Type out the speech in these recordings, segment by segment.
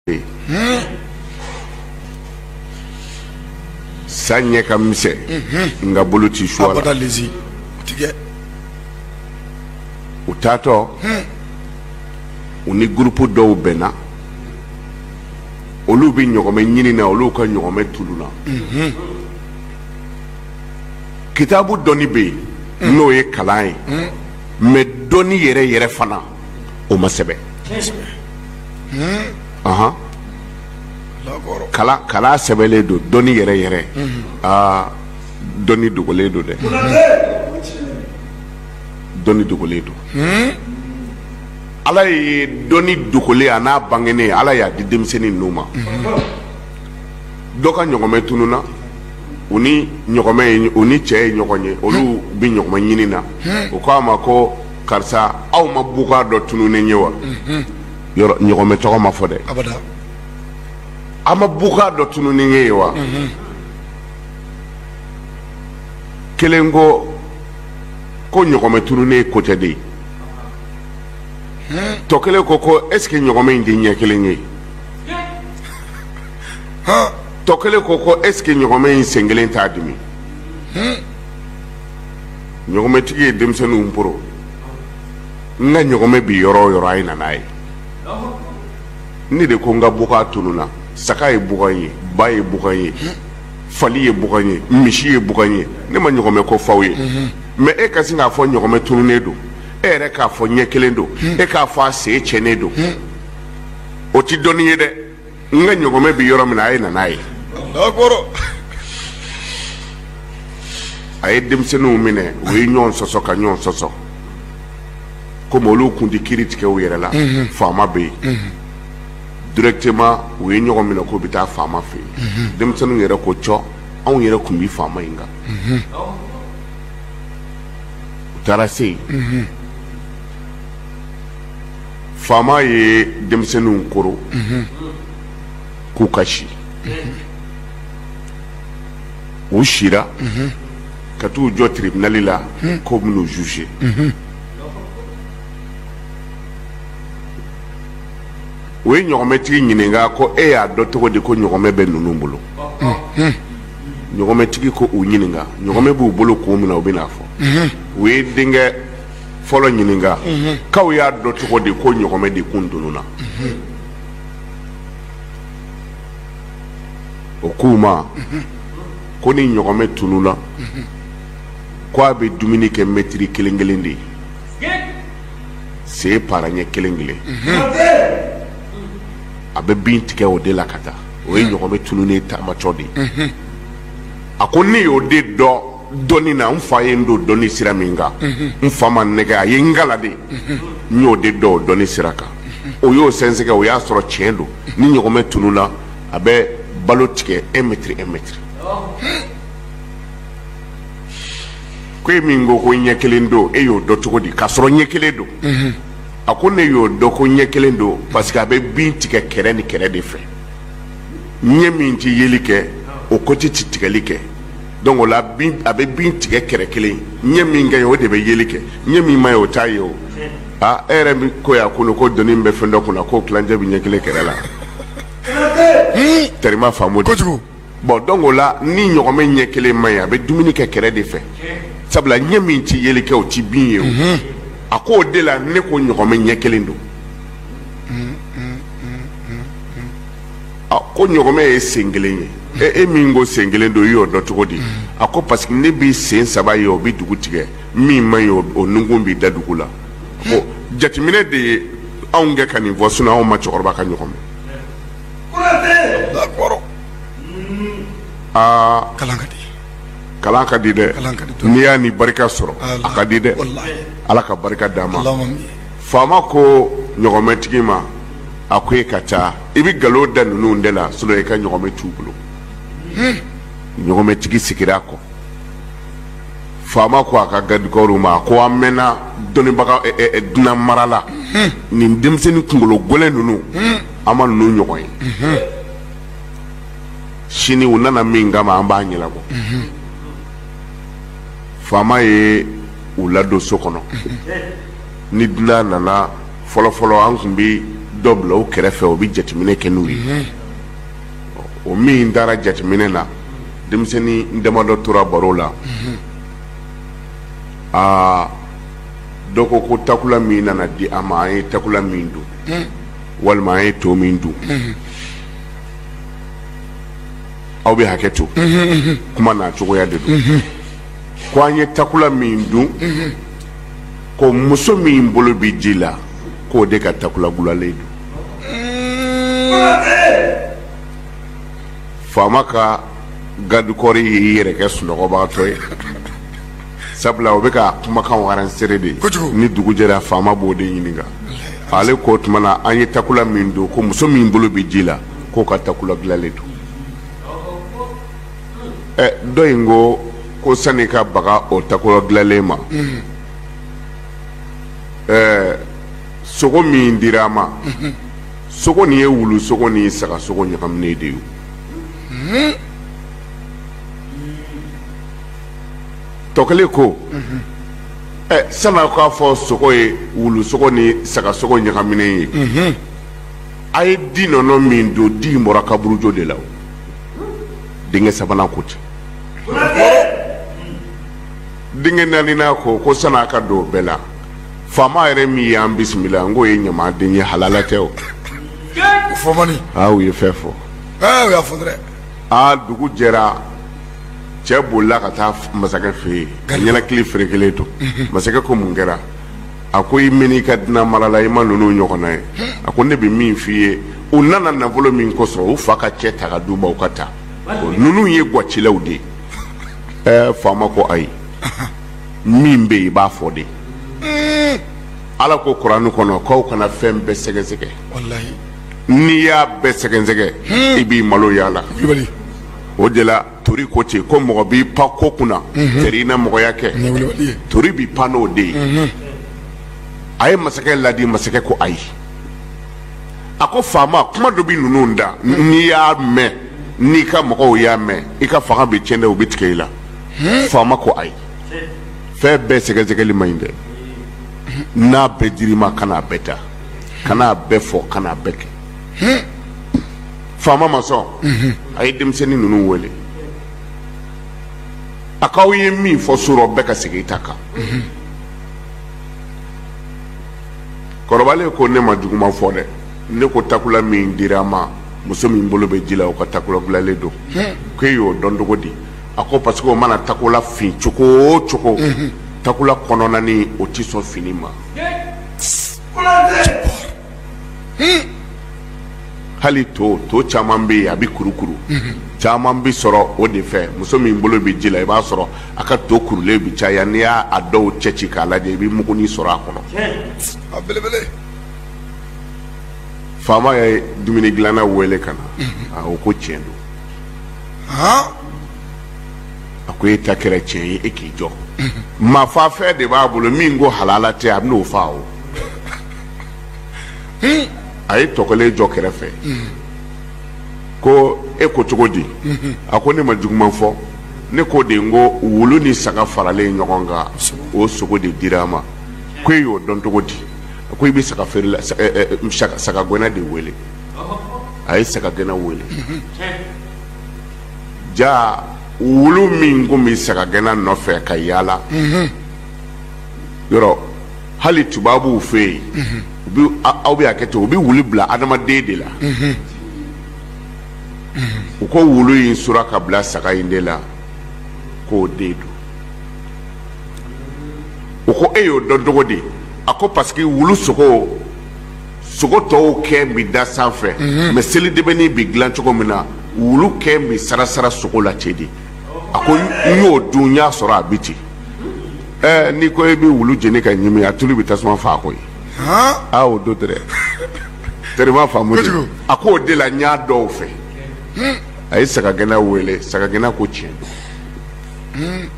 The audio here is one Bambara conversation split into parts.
bɛ yen sa ɲɛ ka misɛn nka bolo ti su a la abada lezi o ti kɛ u taatɔ u ni gurupu dɔw bɛnna olu bɛ ɲɔgɔmɛ ɲini na olu ka ɲɔgɔmɛ tununna kitabu dɔnni bɛ yen n'o ye kalan ye mɛ dɔnni yɛrɛ yɛrɛ fana o ma sɛbɛn ahan kalan kalan sɛbɛnlen don dɔnni yɛrɛ yɛrɛ aa dɔnni dogolen don dɛ dɔnni dogolen don ala ye dɔnni dogolen an'a bangenen ala y'a di denmisɛnnin ninnu ma dɔ ka ɲɔgɔmɛ tununna u ni ɲɔgɔmɛ ye u ni cɛ ye ɲɔgɔn ye olu bɛ ɲɔgɔmɛ ɲini na u ko a ma ko karisa aw ma bagan dɔ tununen ye wa yɔrɔ ɲɔgɔmɛ tɔgɔ ma fɔ dɛ aw ma bagan dɔ tununen ye wa kelen ko ko ɲɔgɔmɛ tununen ye ko tɛ de ye tɔ kelen ko ko est ce que ɲɔgɔmɛ in tɛ ɲɛ kelen ye tɔ kelen ko ko est ce que ɲɔgɔmɛ in sen kelen t'a dimi ɲɔgɔmɛtigi ye denmisɛnninw poron n ka ɲɔgɔmɛ bi yɔrɔ o yɔrɔ a ye na n'a ye ne de ko n ka bagan tununa saga ye bagan ye ba ye bagan ye fali ye bagan ye misi ye bagan ye ne ma ɲɔgɔmɛ ko f'aw ye mɛ e ka sin k'a fɔ ɲɔgɔmɛ tununnen don e yɛrɛ k'a fɔ ɲɛ kelen don e k'a fɔ a sen cɛnnen don o tɛ dɔnni ye dɛ n ka ɲɔgɔmɛ bɛ yɔrɔ min na a ye na n'a ye a ye denmisɛnninw minɛ u ye ɲɔgɔn sɔsɔ ka ɲɔgɔn sɔsɔ komi olu kun tɛ kiri tigɛ u yɛrɛ la mhm. faama bɛ yen mhm. directement u ye ɲɔgɔn minɛ k'u bɛ taa faama fɛ yen mhm. denmisɛnninw yɛrɛ ko cɔ anw yɛrɛ tun bɛ faama in kan u taara se yen faama ye denmisɛnninw koron k'u ka si u sira ka t'u jɔ tiribinali la k'o bɛn'u juger o ye ɲɔgɔmɛtigi ɲininka ko e y'a dɔn cogo di ko ɲɔgɔmɛ bɛ ninnu bolo ɲɔgɔmɛtigi ko u ɲininka ɲɔgɔmɛ b'u bolo kun min na u bɛn'a fɔ u ye denkɛ fɔlɔ ɲininka k'aw y'a dɔn cogo di ko ɲɔgɔnmɛ de kun tununna o k'u ma ko ni ɲɔgɔnmɛ tununna ko a bɛ dumuni kɛ mɛtiri kelen kelen de ye se para ɲɛ kelen kelen a bɛ bin tigɛ o de la ka taa o ye ɲɔgɔnmɛ tununnen taamacɔ de ye a ko ne y'o de dɔn dɔnni na n fa ye n don dɔnni sira min kan n fa ma n nɛgɛn a ye n kalan de n y'o de dɔn o dɔnni sira kan o y'o sɛgɛsɛgɛ o y'a sɔrɔ tiɲɛ don ni ɲɔgɔnmɛ tununna a bɛ balo tigɛ un mètre un mètre ko e min ko ko ɲɛ kelen don e y'o dɔn cogo di k'a sɔrɔ ɲɛ kelen don a ko ne y'o dɔn ko ɲɛ kelen don parce que a bɛ bin tigɛ kɛrɛ ni kɛrɛ de fɛ ɲɛ min tɛ yeli kɛ o ko tɛ tigɛli kɛ donc o la bin a bɛ bin tigɛ kɛrɛ kelen ɲɛ min ka ɲi o de bɛ yeli kɛ ɲɛ min man ɲi o t'a ye o aa e yɛrɛ min ko y'a kolo ko doni bɛ fɛn dɔ kunna k'o tilancɛ bɛ ɲɛ kelen kɛrɛ la tɛrima faamu de kojugu bon donc o la ni ɲɔgɔnmɛ ɲɛ kelen man ɲi a bɛ dumuni kɛ kɛrɛ de fɛ sabula ɲɛ min tɛ yeli kɛ o tɛ bin ye o a ko o de la ne ko ɲɔgɔnmɛ ɲɛ kelen don a ko ɲɔgɔnmɛ ye sen kelen ye e e min ko sen kelen don i y'o dɔn cogo di a ko parce que ne b'i sen saba ye o bɛ dugu tigɛ min man ɲi o o nunkun b'i da dugu la a ko jateminɛ de ye anw kɛ ka nin fɔ sinɔn anw ma cɛkɔrɔba ka ɲɔgɔnmɛ ye aa kalan ka di kalan ka di dɛ Kalan ka di dɔɔni. n'i y'a ni barika sɔrɔ a ka di dɛ Walahi. ala ka barika d'a ma Allahumma amin. faama ko ɲɔgɔnmɛtigi ma a ko e ka taa i bɛ nkalon da ninnu de la sinɔn i ka ɲɔgɔnmɛ t'u bolo ɲɔgɔnmɛtigi sigira a kɔ faama ko a ka gadikɔriw ma a ko an mɛnna dɔnnibaga dunan mara la nin denmisɛnnin kunkolo gɛlɛn ninnu an ma ninnu ɲɔgɔn ye sini u nana min kama an b'a ɲɛnabɔ faama ye u ladon so kɔnɔ ni dunan nana fɔlɔfɔlɔ an tun bɛ dɔ bila o kɛrɛfɛ o bɛ jateminɛ kɛ n'u ye o min taara jateminɛ na denmisɛnnin damadɔ tora baro la aa dɔ ko ko takula min nana di an ma an ye takula min dun walima an ye to min dun aw bɛ hakɛ to kuma na cogoya de don ko an ye takula min dun ko muso min bolo bɛ ji la k'o de ka takula gulalen don faama ka garidikɔri y'i yɛrɛ kɛ sunɔgɔbagatɔ ye sabula o bɛ ka kumakan aransere de ni dugu jɛra faama b'o de ɲininka ale k'o tuma na an ye takula min dun ko muso min bolo bɛ ji la k'o ka takula gulalen don ɛ dɔ in ko ko sani ka baga o takula gilalen ma ɛɛ sogo min dira a ma sogo nin ye wulu sogo ni saga sogo ɲagaminen de ye tɔkelen ko ɛ sani aw k'a fɔ sogo ye wulu sogo ni saga sogo ɲagaminen ye a ye di nɔnɔ min dun di in bɔra kaburujo de la o denkɛ sabanan ko ten denkɛ naaninan ko ko sani aw ka don o bɛɛ la faama yɛrɛ min y'an bisimila n k'o ye ɲama den ye halala tɛ o fɔ man di aa u ye fɛn fɔ aa u y'a fɔ dɛrɛ aa dugu jɛra cɛ bolila ka taa masakɛ fɛ yen ka ɲɛnakili feere kelen to masakɛ ko mun kɛra a ko i mɛn i ka dunan marala i ma ninnu ɲɔgɔnna ye a ko ne bɛ min f'i ye u nana nafolo min kosɔn u fa ka cɛn ta k'a d'u ma u ka taa ninnu ye gwacilaw de ye ɛɛ faama ko ayi min bɛ yen i b'a fɔ de ala ko kuranɛ kɔnɔ k'aw kana fɛn bɛɛ sɛgɛsɛgɛ n'i y'a bɛɛ sɛgɛsɛgɛ i b'i malo y'a la o de la tori ko ten ko mɔgɔ b'i pan ko kunna mhm. teri na mɔgɔya kɛ tori b'i pan n'o de ye mhm. a ye masakɛ ladi masakɛ ko ayi a ko faama kuma dɔ bɛ ninnu da mhm. n'i y'a mɛn n'i ka mɔgɔw y'a mɛn i ka fanga bɛ tiɲɛ dɛ u bɛ tigɛ i la faama ko ayi fɛn bɛɛ sɛgɛsɛgɛli man ɲi dɛ n'a bɛɛ dir'i ma kan'a bɛɛ ta kan'a bɛɛ fɔ kan'a bɛɛ kɛ faama ma sɔn a ye denmisɛnnin ninnu wele a k'aw ye min fɔ su rɔ bɛɛ ka segin i ta kan kɔrɔbalen ko ne ma juguma fɔ dɛ ne ko takula min dira a ma muso min bolo bɛ ji la o ka takula gulalen don ko e y'o dɔn cogo di a ko parce que o mana takula fin cogo o cogo takula kɔnɔna nin o tɛ sɔn finni ma hali to to caman bɛ yen a bɛ kurukuru caman bɛ sɔrɔ o de fɛ muso min bolo bɛ ji la i b'a sɔrɔ a ka to kurulen bɛ caya n'i y'a dɔw cɛ ci k'a lajɛ i bɛ muguni sɔrɔ a kɔnɔ a belebele faama ye dumuni dilanna wele ka na a ko ko tiɲɛ don a ko e ta kɛra tiɲɛ ye e k'i jɔ maafafɛn de b'a bolo min ko halala tɛ a bɛ n'o fa o a ye tɔ kelen jɔ kɛrɛfɛ ko e ko cogo di a ko ne ma juguman fɔ ne ko de ko wulu ni saga faralen ɲɔgɔn kan o sogo de dira a ma ko e y'o dɔn cogo di a ko i bɛ saga feerela saga gɛnna de wele a ye saga gɛnna wele ja wulu min kun bɛ saga gɛnna nɔfɛ ka yaala yɔrɔ hali tubabuw fɛ yen mhm. u bɛ aw bɛ hakɛ to u bɛ wulu bila adamaden de la mhm. Mhm. u ko wulu in sura ka bila saga in de la k'o den don u ko e y'o dɔn cogo di a ko parce que wulu sogo sogo tɔw kɛn bɛ da sanfɛ mɛ seli dɛmɛni bɛ dilan cogo min na wulu kɛn bɛ sarasara sogo la ten de a ko n y'o dun n y'a sɔrɔ a bɛ ten. ɛɛ n'i ko i bɛ wulu jeni ka ɲimi a tulu bɛ tasuma fa ko ye aa o don dɛrɛ terima faamu de a k'o de la n y'a dɔn o fɛ a ye sagagɛnna wele sagagɛnna ko tiɲɛ don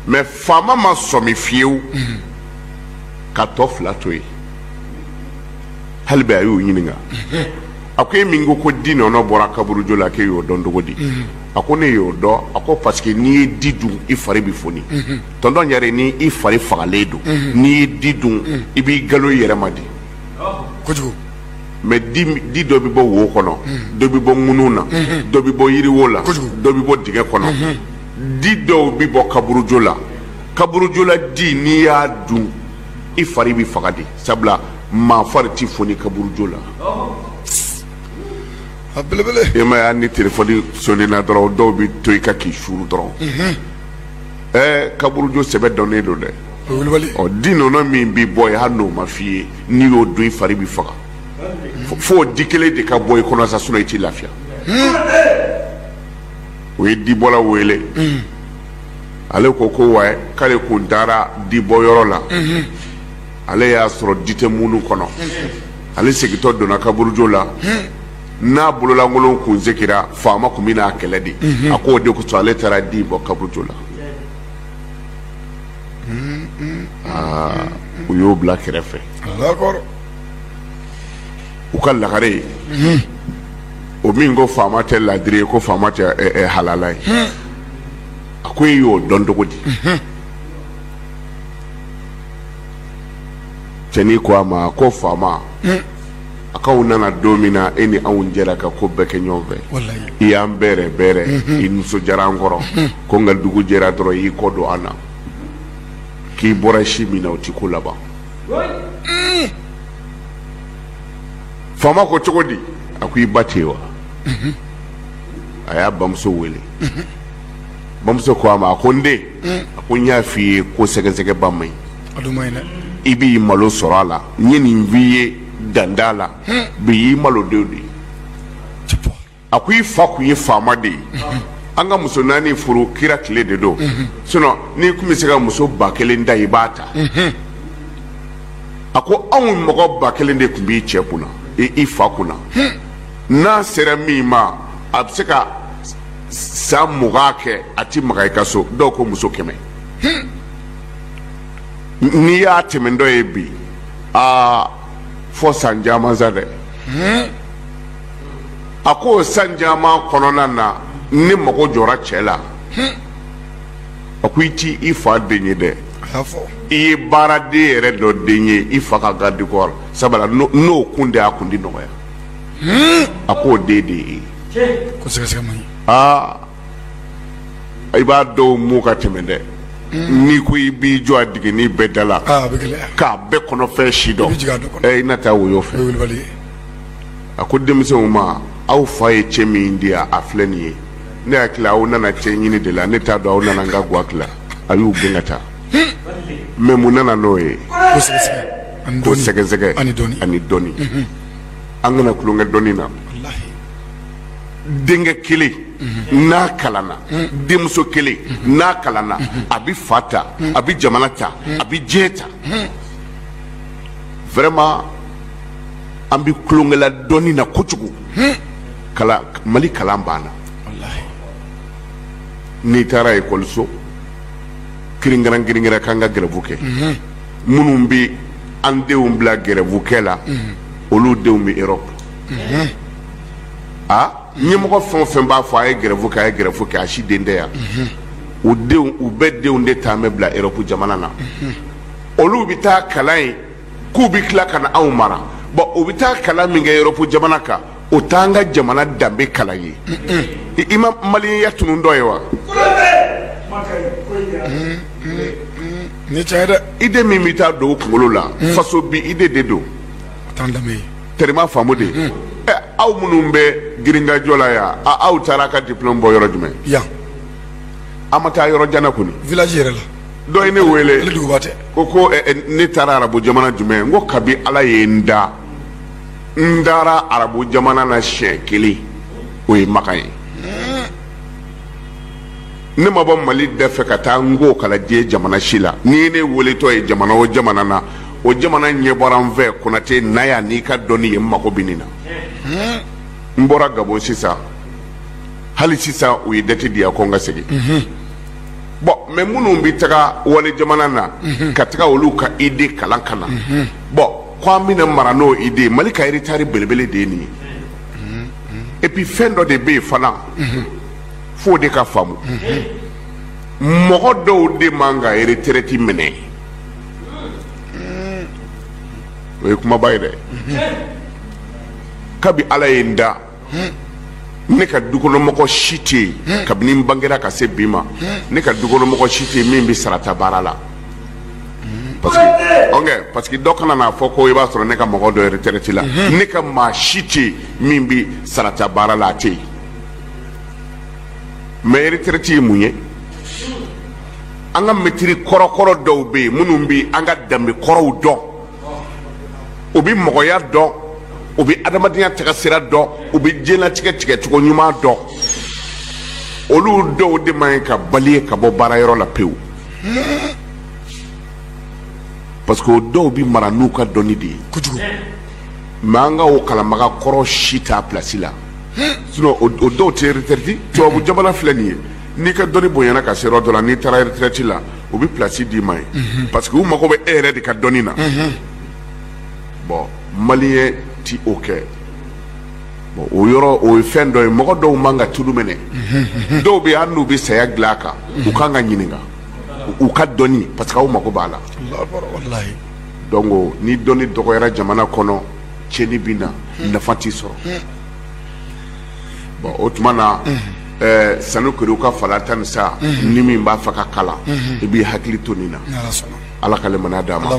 mɛ faama ma sɔmi fiyewu ka tɔ fila to yen hali bi a y'u ɲininka a ko e min ko ko di nɔnɔ bɔra kaburujo la k'e y'o dɔn cogo di a ko ne y'o dɔn a ko parce que n'i ye di dun i fari bɛ foni tɔntɔn yɛrɛ ni i fari fagalen don n'i ye di dun i b'i galo i yɛrɛ ma di kojugu mɛ di di dɔ bɛ bɔ wo kɔnɔ dɔ bɛ bɔ ŋunun na dɔ bɛ bɔ yiriwo la Kojugu. dɔ bɛ bɔ dingɛ kɔnɔ di dɔw bɛ bɔ kaburujo la kaburujola di n'i y'a dun i fari bɛ faga de sabula maa fari ti foni kaburujo la a belebele e m'a ye ni telefɔni sonnina dɔrɔn dɔw bɛ to i ka k'i suru dɔrɔn ɛɛ kaburujo sɛbɛ dɔnnen don dɛ o ye wulibali ɔ di nɔnɔ min bɛ bɔ yen hali n'o ma f'i ye n'i y'o dun i fari bɛ faga Fo- fo o di kelen de ka bɔ i kɔnɔ sa sinon i t'i lafiya u ye dibɔla wele ale ko ko wa k'ale kun taara dibɔ yɔrɔ la ale y'a sɔrɔ di tɛ ŋunu kɔnɔ ale segintɔ donna kaburujo la n'a bololankolon kun segira faama tun bɛn'a kɛlɛ de a k'o de kosɔn ale taara di bɔ kaburujo la u y'o bila kɛrɛfɛ u ka lagare ye o min ko faama tɛ laadiri ye ko faama tɛ halala ye a ko e y'o dɔn cogo di cɛnin ko a ma ko faama a k'anw nana don min na e ni anw jɛra ka ko bɛɛ kɛ ɲɔgɔn fɛ i y'an bɛrɛ bɛrɛ i nisɔndiyara an kɔrɔ ko nka dugu jɛra dɔrɔn i y'i kɔ don an na k'i bɔra si min na o t'i ko laban faama ko cogo di a ko i ba tɛ yen wa a y'a bamuso wele bamuso ko a ma a ko n den a ko n y'a f'i ye ko sɛgɛsɛgɛ ba man ɲi i b'i malo sɔrɔ a la n ye nin f'i ye danda la bi y'i malodon de ye a ko i fa kun ye faama de ye an ka muso naani furu kira tile de don sinon n'i tun bɛ se ka muso ba kelen ta i b'a ta a ko anw mɔgɔ ba kelen de tun b'i cɛ kunna i fa kunna n'a sera min ma a bɛ se ka san mugan kɛ a ti maga i ka so dɔw ko muso kɛmɛ n'i y'a tɛmɛ dɔ ye bi aa fo san caman sa dɛ a ko san caman kɔnɔna na ne mago jɔra cɛ la a ko i ti i fa den ye dɛ i ye baaraden yɛrɛ dɔ den ye i fa ka garde corps sabula n'o kun de y'a kun di nɔgɔya a k'o den de ye ko sɛgɛsɛgɛ aa i b'a dɔw mɔ ka tɛmɛ dɛ n'i ko i b'i jɔ a dingɛnin bɛɛ da la k'a bɛɛ kɔnɔfɛn si dɔn i na taa woyo fɛ a ko denmisɛnw ma aw fa ye cɛn min di a filɛ nin ye ne hakili la aw nana cɛn ɲini de la ne t'a dɔn aw nana n ka ga tila a y'u gɛn ka taa mɛ mun nana n'o ye ko sɛgɛsɛgɛ ani dɔnni an kana tulonkɛ dɔnni na denkɛ kelen n'a kalanna denmuso kelen n'a kalanna a bɛ fa ta a bɛ jamana ta a bɛ diɲɛ ta vraiment an bɛ tulonkɛ la dɔnni na kojugu kalan mali kalan banna n'i taara ekɔliso kirinkɛrɛn kirinkɛrɛn k'an ka gɛrɛbu kɛ minnu bɛ an denw bila gɛrɛfukɛ la olu denw bɛ erɔpu a ɲɛmɔgɔ fɛn fɛn b'a fɔ a ye gɛrɛfu kɛ a ye gɛrɛfu kɛ a si den tɛ yan u denw u bɛɛ denw de taa bɛ bila erɔpu jamana na olu bɛ taa kalan yen k'u bɛ tila ka na anw mara bɔn u bɛ taa kalan min kɛ erɔpu jamana kan o t'an ka jamana danbe kalan ye i ma maliyenya tunun dɔ ye wa ni cɛ dɛ ide min bɛ taa don kunkolo la faso bi ide de don t'an danbe ye terima faamu de ɛ aw minnu bɛ girinkajɔ la yan a aw taara a ka diplôme bɔ yɔrɔ jumɛn yan a ma taa yɔrɔ jan na kɔni village yɛrɛ la dɔ ye ne wele ale duguba tɛ ko ko ɛ, ɛ, ne taara arabu jamana jumɛn n ko kabi ala ye n da n taara arabu jamana na siɲɛ kelen o ye maka ye ne ma bɔ mali da fɛ ka taa n k'o kalan diɲɛ jamana si la n'i ye ne weletɔ ye jamana o jamana na o jamana ɲɛ bɔra n fɛ konate na yan n'i ka dɔnni ye n mago bɛ nin na n bɔra gabon sisan hali sisan u ye dati di yan ko n ka segin bɔn mɛ minnu bɛ taga wali jamana na ka taga olu ka ide kalan ka na bɔn k' an bɛna mara n'o ide mali ka retard belebele de nin ye epi fɛn dɔ de bɛ yen fana fo de ka faamu mɔgɔ dɔw de man ka retraite minɛ o ye kumaba ye dɛ kabi ala ye n da ne ka dukɔnɔmɔgɔ si tɛ yen kabini n bangera ka se bi ma ne ka dukɔnɔmɔgɔ si tɛ yen min bɛ sarata baara la parce que ok parce que dɔ kana n'a fɔ ko i b'a sɔrɔ ne ka mɔgɔ dɔ retraite la ne ka maa si tɛ yen min bɛ sarata baara la a tɛ yen mais retraite ye mun ye an ka mɛtiri kɔrɔkɔrɔ dɔw bɛ yen minnu bɛ an ka danbe kɔrɔw dɔn u bɛ mɔgɔya dɔn u bɛ adamadenya tagasira dɔn u bɛ diɲɛlatigɛ tigɛcogo ɲuman dɔn olu dɔw de man ɲi ka bali ye ka bɔ baarayɔrɔ la pewu parce que o dɔw bɛ mara n'u ka dɔnni de ye kojugu mɛ an ka o kalanbaga kɔrɔ si t'a pilasi la sinon o dɔw tɛ retraite tubabu jamana filɛ nin ye n'i ka dɔnni bonyana ka se yɔrɔ dɔ la n'i taara retraite la u bɛ place d'i ma yen parce que u mago bɛ e yɛrɛ de ka dɔnni na bon maliyɛn ti o kɛ bon o yɔrɔ o ye fɛn dɔ ye mɔgɔ dɔw man ka tulu minɛ dɔw bɛ yen hali n'u bɛ saya dilan kan u kan ka ɲininka u ka dɔnni parce que aw mago b'a la walahi donc o, ni dɔnni dɔgɔyara jamana kɔnɔ tiɲɛni bɛ na nafa tɛ sɔrɔ bɔn o tuma na ɛɛ sanu kere ka fala tan ni sa ni min b'a fɛ ka kalan i b'i hakili to nin na ala ka limaniya d'an ma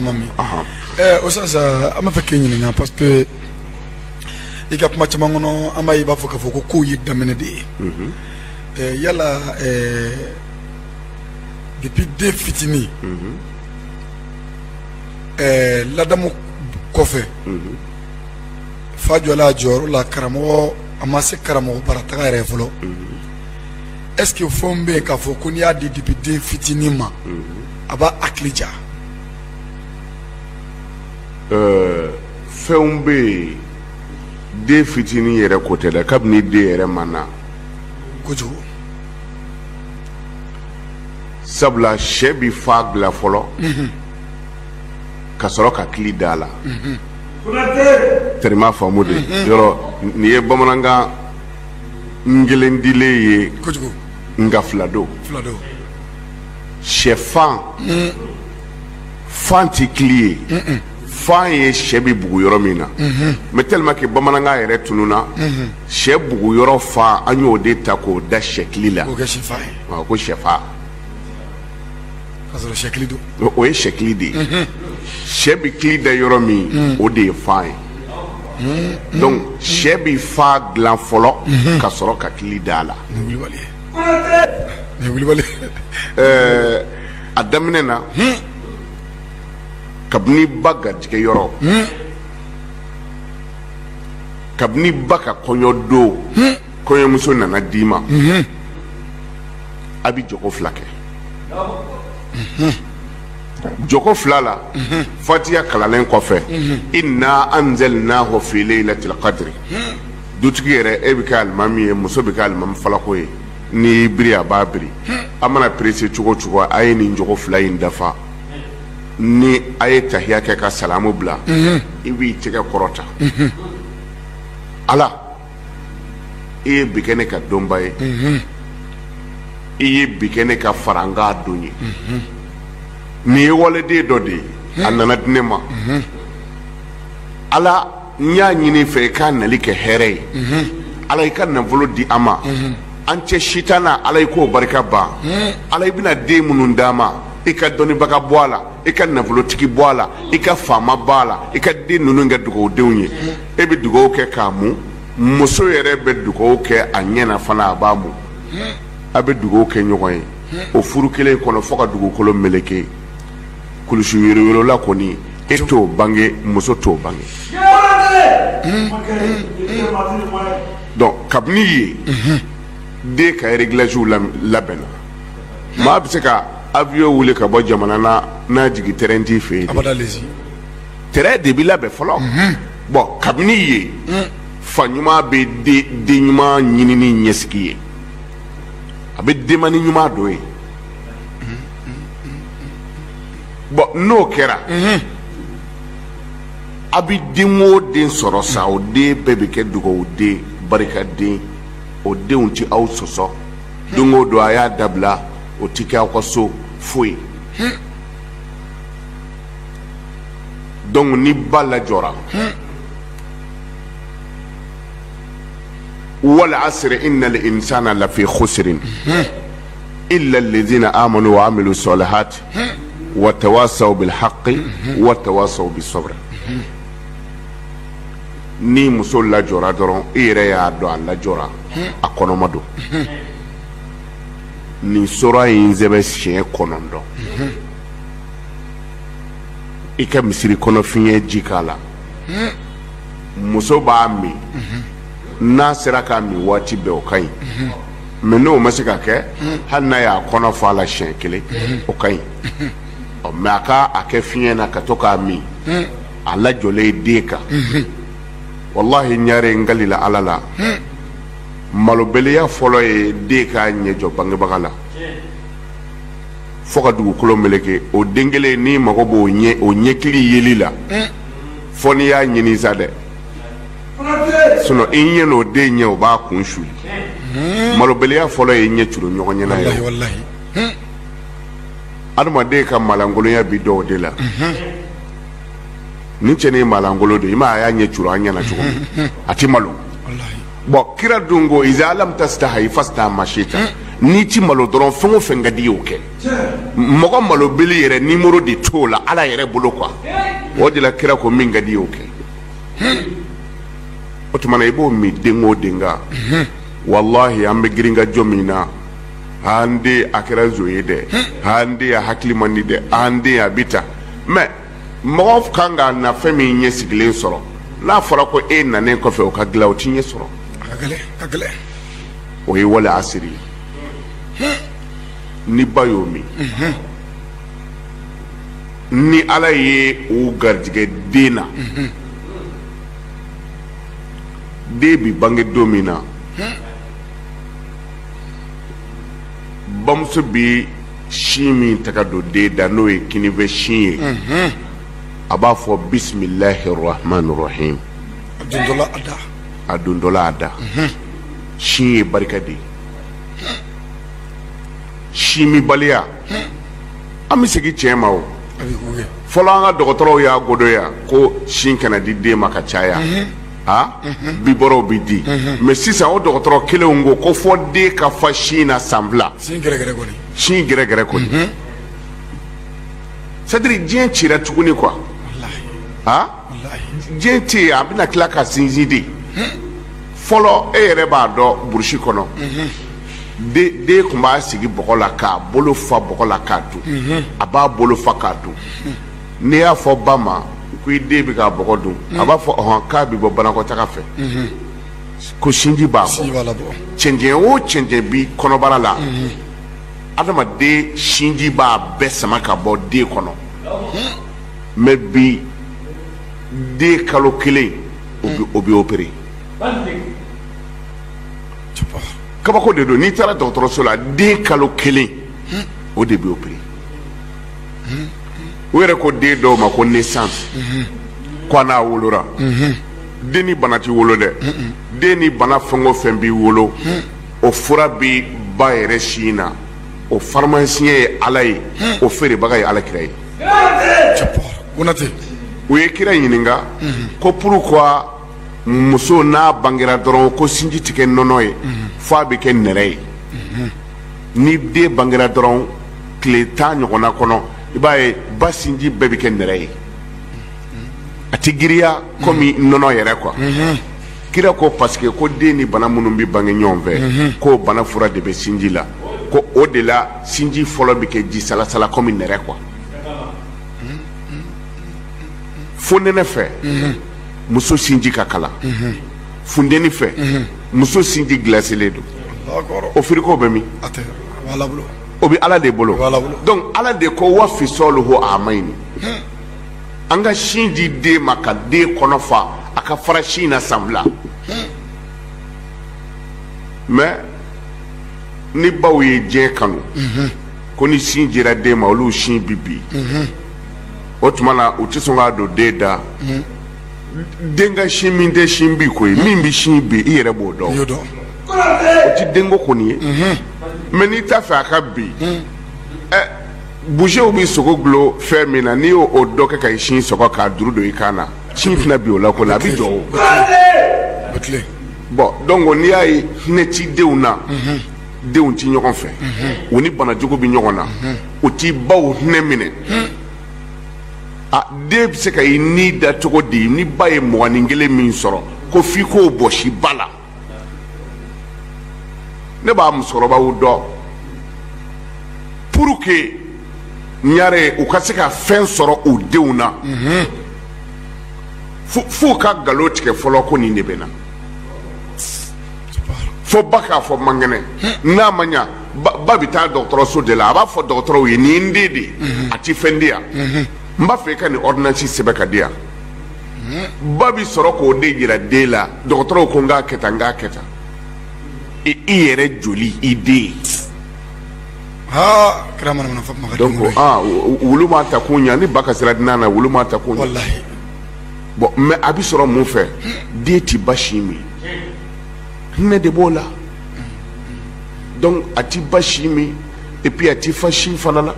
o sisan an b'a fɛ k'i ɲininka parce que i ka kuma caman kɔnɔ an b'a ye i b'a fɔ k'a fɔ ko kow ye daminɛ de ye mhm. eh, yala eh, depuis den fitinin mhm. eh, ladamu kɔfɛ mhm. fa jɔla jɔyɔrɔ la karamɔgɔ an ma se karamɔgɔ bara taga yɛrɛ fɔlɔ est ce que fɛnw bɛ yen k'a fɔ ko n'i y'a di depuis den fitinin ma a b'a hakili diya euh, fɛnw bɛ yen den fitinin yɛrɛ ko tɛ dɛ kabini den yɛrɛ ma na kojugu sabula sɛ bi fa dilan fɔlɔ mhm. ka sɔrɔ ka kili da a la mhm. terima faamu de yɔrɔ nin ye bamanankan kelen dilen ye nka fila don sɛfan fan ti kili ye fan ye sɛ bɛ bugu yɔrɔ min na mais tellement que bamanankan yɛrɛ tununa sɛ bugu yɔrɔ fan an y'o de ta k'o da sɛ kili la ko sɛfan o ye sɛ kili de ye sɛ bɛ kili da yɔrɔ min o de ye fa ye donc sɛ bɛ fa dilan fɔlɔ ka sɔrɔ ka kili da a la a daminɛ na kabini ba garijɛgɛ yɔrɔ kabini ba ka kɔɲɔ don kɔɲɔmuso nana d'i ma a bɛ jɔko fila kɛ jɔko fila la fatiya kalalen kɔfɛ inna anzalnahu fii layilatil kadiri dutigi yɛrɛ e bɛ kɛ alimami ye muso bɛ kɛ alimami falako ye n'i biri a b'a biri a mana perese cogo o cogo a ye nin jɔko fila in dafa ni a ye tahiya kɛ ka salamu bila i b'i tɛgɛ kɔrɔta ala i ye bi kɛ ne ka donba ye i ye bi kɛ ne ka farankan don ye nin ye waliden dɔ de ye a nana di ne ma ala n y'a ɲini i fɛ i k'a nali kɛ hɛrɛ ye ala i ka nafolo di an ma an cɛ sitanɛ ala i k'o barika ban ala i bɛna den minnu d'an ma i ka dɔnnibaga bɔ a la i ka nafolotigi bɔ a la i ka faama bɔ a la i ka den ninnu kɛ dugawu denw ye e bɛ dugawu kɛ k'a mun muso yɛrɛ bɛ dugawu kɛ a ɲɛ fana a b'a mun a bɛ dugawu kɛ ɲɔgɔn ye o furu kelen kɔnɔ fo ka dugukolo meleke kulusi yoroyorola kɔni e t'o bange muso t'o bange bɔn kabini ye den ka erigilasiw labɛnna maa bɛ se ka awiyɔn wuli ka bɔ jamana na n'a jigin tɛrɛn t'i fɛ yen tɛrɛn de bɛ labɛn fɔlɔ mhm. bɔn kabini ye mm. fa ɲuman bɛ den ɲuman ɲinini ɲɛsigi ye a bɛ denmani ɲuman dɔ ye bɔn n'o kɛra mhm. a bɛ den o den sɔrɔ sa o den bɛɛ bɛ kɛ dugawu den barikaden o denw tɛ aw sɔsɔ don o don a y'a dabila o tɛ kɛ aw ka so foyi. dɔnki ni ba lajɔra wali asiri inali insana lafi kusirin ilalazina amanu wa amilu sɔlihati wa tawasaw bili haki wa tawasaw bi sɔbiri ni muso lajɔra dɔrɔn i yɛrɛ y'a dɔn a lajɔra a kɔnɔma don nin suran in sɛbɛn siɲɛ kɔnɔntɔn i ka misiri kɔnɔ fiɲɛ ji k'a la muso b'a min n'a sera k'a min waati bɛɛ o ka ɲi mɛ n'o ma se ka kɛ hali n'a y'a kɔnɔ fa a la siɲɛ kelen o ka ɲi mɛ a ka a kɛ fiɲɛ na ka to k'a min a lajɔlen ye den kan walahi ɲare n kalila ala la malobaliya fɔlɔ ye den k'a ɲɛ jɔ bangebaga la fo ka dugukolo meleke o den kelen n'i mago b'o ɲɛ o ɲɛkili yeli la fo n'i y'a ɲini sa dɛ sinɔn i ɲɛ n'o den ɲɛ o b'a kun suli malobaliya fɔlɔ ye ɲɛ turu ɲɔgɔn ɲɛ na ye adamaden ka malankolonya bɛ dɔn o de la nin cɛnin ye malankolon de i ma a y'a ɲɛ turu an ɲɛ na cogo a tɛ malo bɔn kira dun ko iza lam tasitahi fasina masita n'i ti malo dɔrɔn fɛn o fɛn ka di y'o kɛ mɔgɔ malobali yɛrɛ nimɔrɔ de t'o la ala yɛrɛ bolo kuwa o de la kira ko min ka di y'o kɛ o tuma na i b'o min den o den kan walahi an bɛ girin ka jɔ min na an den a kɛra zon ye dɛ an den a hakili man di dɛ an den a bɛ ta mɛ mɔgɔ kan ka na fɛn min ɲɛsigilen sɔrɔ n'a fɔra ko e nanen kɔfɛ o ka dilan o ti ɲɛ sɔrɔ o ye wala asiri ye ni ba y'o min ni ala ye o garijɛgɛ den na den bi bange don min na bamuso bi sin min taga don den da n'o ye kininfɛ sin ye a b'a fɔ bisimilahi rahman rahim a dontɔla a da a dontɔla a da sin ye barika de ye sin minbaliya an bɛ segin tiɲɛ ma o a bɛ k'u ye fɔlɔ an ka dɔgɔtɔrɔw y'a godoya ko sin kana di den ma ka caya a bibɔrɔnw bɛ di mɛ sisan o dɔgɔtɔrɔ kelenw ko ko fɔ den ka fa sin na san fila sin gɛrɛgɛrɛ kɔni sadiri diɲɛ cira tuguni kuwa a diɲɛ tɛ yen a bɛna tila ka sinsin di fɔlɔ e yɛrɛ b'a dɔn burusi kɔnɔ den tun b'a sigi bɔgɔ la k'a bolo fa bɔgɔ la k'a dun a b'a bolo fa k'a dun n'i y'a fɔ ba ma ko i den bɛ ka bɔgɔ dun a b'a fɔ ɔhɔn k'a bɛ bɔ banakɔtaga fɛ ko sinji b'a bɔ cɛncɛn o cɛncɛn bi kɔnɔbara la adamaden sinji b'a bɛɛ sama ka bɔ den kɔnɔ mɛ bi den kalo kelen o bɛ opere kabako de don n'i taara dɔgɔtɔrɔso la den kalo kelen o de bɛ opere u yɛrɛ ko den dɔw ma ko naissance ko a n'a wolora den ni bana ti wolo dɛ den ni bana fɛn o fɛn bi wolo o fura bi ba yɛrɛ sin na o faramasiɲɛ ye ala ye o feerebaga ye ala kira ye u ye kira ɲininka ko pourquoi muso n'a bangera dɔrɔn ko sinji tɛ kɛ nɔnɔ ye f'a bɛ kɛ nɛrɛ ye ni den bangera dɔrɔn tile tan ɲɔgɔnna kɔnɔ i b'a ye ba sinji bɛɛ bɛ kɛ nɛrɛ ye a tɛ giriya komi nɔnɔ yɛrɛ kuwa kira ko parce que ko den ni bana minnu bɛ bange ɲɔgɔn fɛ k'o bana fura de bɛ sinji la ko o de la sinji fɔlɔ bɛ kɛ ji salasala komi nɛrɛ kuwa fonɛnɛ fɛ muso sinji ka kalan funteni fɛ muso sinji gilaselen don o firigo bɛ min o bɛ ala de bolo donc ala de ko wa fisɔluhu amayni an ka sin di den ma ka den kɔnɔ fa a ka fara sin na san fila mais ni baw ye diɲɛ kanu ko ni sin dira den ma olu sin bi bin o tuma na u tɛ sɔn k'a don den da den ka sin min tɛ sin bin ko ye min bɛ sin bin i yɛrɛ b'o dɔn ti den ko kɔni ye mais n'i t'a fɛ a ka bin busew bɛ sogo dulon fɛn min na n'i y'o dɔ kɛ ka i sin sɔgɔ k'a juru don i kan na sin tɛna bin o la kɔni a bɛ jɔ bon donc n'i y'a ye hinɛ ti denw na denw ti ɲɔgɔn fɛ u ni banajugu bɛ ɲɔgɔn na u ti baw hinɛ minɛ a den bɛ se ka i ni da cogo di ni ba ye mɔgɔnin kelen min sɔrɔ ko f'i k'o bɔsi ba la ne b'a musokɔrɔbaw dɔn pour que ɲare u ka se ka fɛn sɔrɔ u denw na f'u ka galon tigɛ fɔlɔ ko nin de bɛ n na fo ba k'a fɔ n man kɛnɛ n'a ma ɲa ba bɛ taa dɔgɔtɔrɔso de la a b'a fɔ dɔgɔtɔrɔw ye nin ye n den de ye a ti fɛn di yan n b'a fɛ i ka nin ordonnance sɛbɛn k'a di yan ba bɛ sɔrɔ k'o de jira den la dɔgɔtɔrɔw ko n k'a kɛ tan n k'a kɛ tan i i yɛrɛ joli i den aa kira mana mana fɔ kuma ka donc denw ko aa wo- wulu m'a ta kun ɲa ni ba ka sira dinan na wulu m'a ta kun ɲa walahi bon mais a bɛ sɔrɔ mun fɛ den ti ba sin min hinɛ de b'o la donc a ti ba sin min et puis a ti fa sin fana la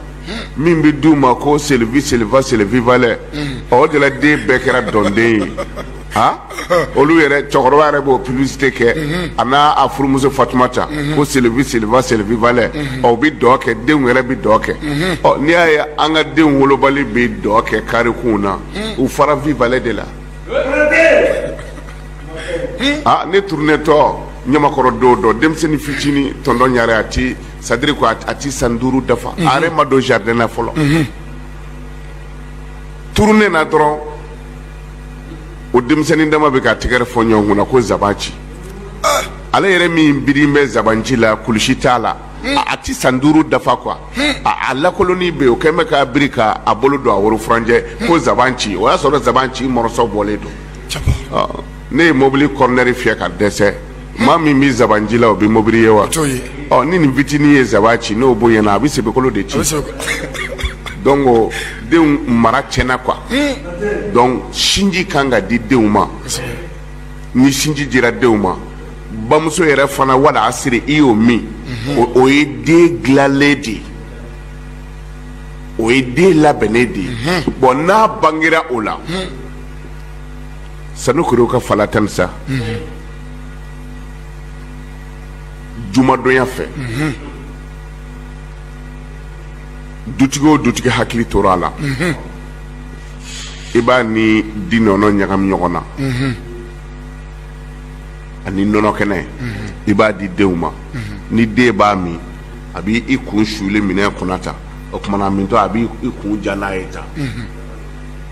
min bɛ di u ma ko c'est le vi c'est le va c'est le vivalait o de la den bɛɛ kɛra dɔnden ye olu cɛkɔrɔba yɛrɛ b'o publicité kɛ a n'a furumuso fatumata ko c'est le vi c'est le va c'est le vivalait u bɛ dɔn kɛ denw yɛrɛ bɛ dɔn kɛ ɔ n'i y'a ye an ka denw kolobali bɛ dɔn kɛ karekun na u fara vivalait de la ne turunetɔ ɲamakɔrɔ don dɔ denmisɛnnin fitinin tonton ɲare a ti c'est-à-dire ko a ti san duuru dafa a yɛrɛ ma don jardin na fɔlɔ turunena dɔrɔn o denmisɛnnin dama bɛ ka tɛgɛrɛ fɔ ɲɔgɔn kunna ko zaban ci ale yɛrɛ min birin bɛ zaban ci la kulusi t'a la a a ti san duuru dafa quoi a a lakolonnin bɛ yen o kɛn bɛ k'a biri ka a bolo don a woro furancɛ ko zaban ci o y'a sɔrɔ zaban ci morceau bɔlen don ne ye mobili kɔrɔnɛri fiyɛ ka dɛsɛ maa min bɛ zaban ci la o bɛ mobili ye wa ɔ ni nin fitinin ye zaban ci n'o bonyana a bɛ sebekolo de ci donc o denw mara tiɲɛna quoi hmm. donc sinji kan ka di denw ma ni sinji dira denw ma bamuso yɛrɛ fana wala a siri i y'o min mhm. o ye den dilanlen de ye o ye den labɛnnen de ye mhm. bɔn n'a bangera o la mhm. sanukuriwuka fala tansa jumadonya fɛ dutigi o dutigi hakili tora a la i b'a ni di nɔnɔ ɲagami ɲɔgɔn na ani nɔnɔ kɛnɛ i b'a di denw ma ni den b'a min a b'i kun suli minɛn kɔnɔ tan o tuma na a mintɔ a b'i kun jan n'a ye tan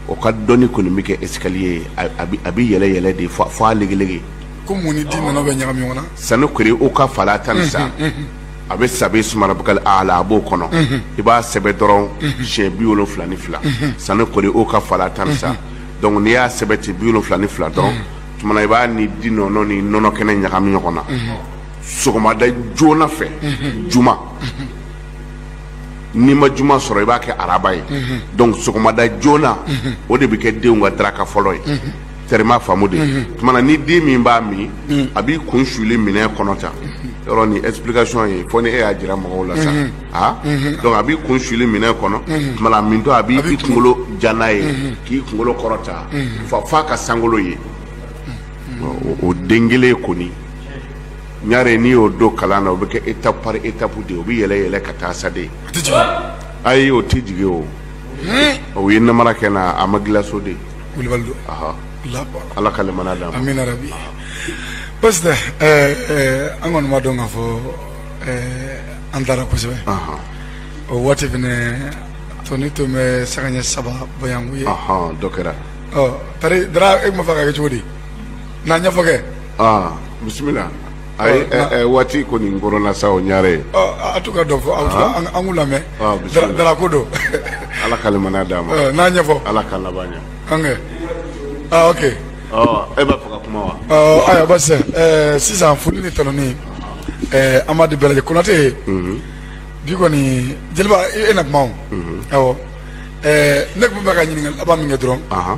o ka dɔnni kɔni bɛ kɛ escalier ye a bɛ yɛlɛn yɛlɛn de fo a legelege ko mun ni di nɔnɔ bɛ ɲagami ɲɔgɔn na sanukuriwuka fala tansa a bɛ sabihisima rabikali aala a b'o kɔnɔ i b'a sɛbɛn dɔrɔn siɲɛ bi wolonfila ni fila sanukuriwuka fala tansa donc n'i y'a sɛbɛn ten bi wolonfila ni fila dɔrɔn tumana i b'a ni di nɔnɔ ni nɔnɔ kɛnɛ ɲagami ɲɔgɔn na sɔgɔmada joona fɛ juma n'i ma juma sɔrɔ i b'a kɛ araba ye mhm. donc sɔgɔmada joona mhm. o de bɛ kɛ denw ka daraka fɔlɔ ye mhm. tɛrɛ m'a faamu dɛ tumana ni den min b'a min a b'i kun suli minɛn kɔnɔ tan yɔrɔnin explication ye fo ni e y'a jira mɔgɔw la sa a donc a b'i kun suli minɛn kɔnɔ tumana mintɔ a b'i kunkolo jan n'a ye k'i kunkolo kɔrɔta f'a ka sankolo ye o den kelen kɔni ɲare n'i y'o don kalan na o bɛ kɛ étape par étape de ye o bɛ yɛlɛn yɛlɛn ka taa sa dɛ ayi o tɛ jigin o o ye namara kɛ na a ma gilaso de kulubali don ala ka limaniya d'a ma amina rabi basi tɛ an kɔni b'a dɔn k'a fɔ an taara kosɛbɛ o waati fɛnɛ tɔnin tun bɛ sanga ɲɛ saba boyanko ye dɔ kɛra tari dara e tun b'a fɛ ka kɛ cogo di n'a ɲɛfɔ kɛ aa bisimila a ye Ɔ, ɛ- ɛ, waati kɔni kɔrɔla sa o ɲare ye Ɔ, a- a to ka dɔ fɔ aw fila an an k'u lamɛn Ah, bisimila. Dara- darako don ala ka limaniya d'a ma Ɔ, n'a ɲɛfɔ ala ka laban ɲɛ an kɛ ah ok ɔ e b'a fɛ ka kuma wa Ɔ, ayiwa basi ɛɛ sisan foli ni tanuni ɛɛ an b'a di bɛɛ lajɛlen konate bi kɔni jeliba i- e na kuma o awɔ ɛɛ ne tun bɛ ka ɲininkali laban min kɛ dɔrɔn Ahan.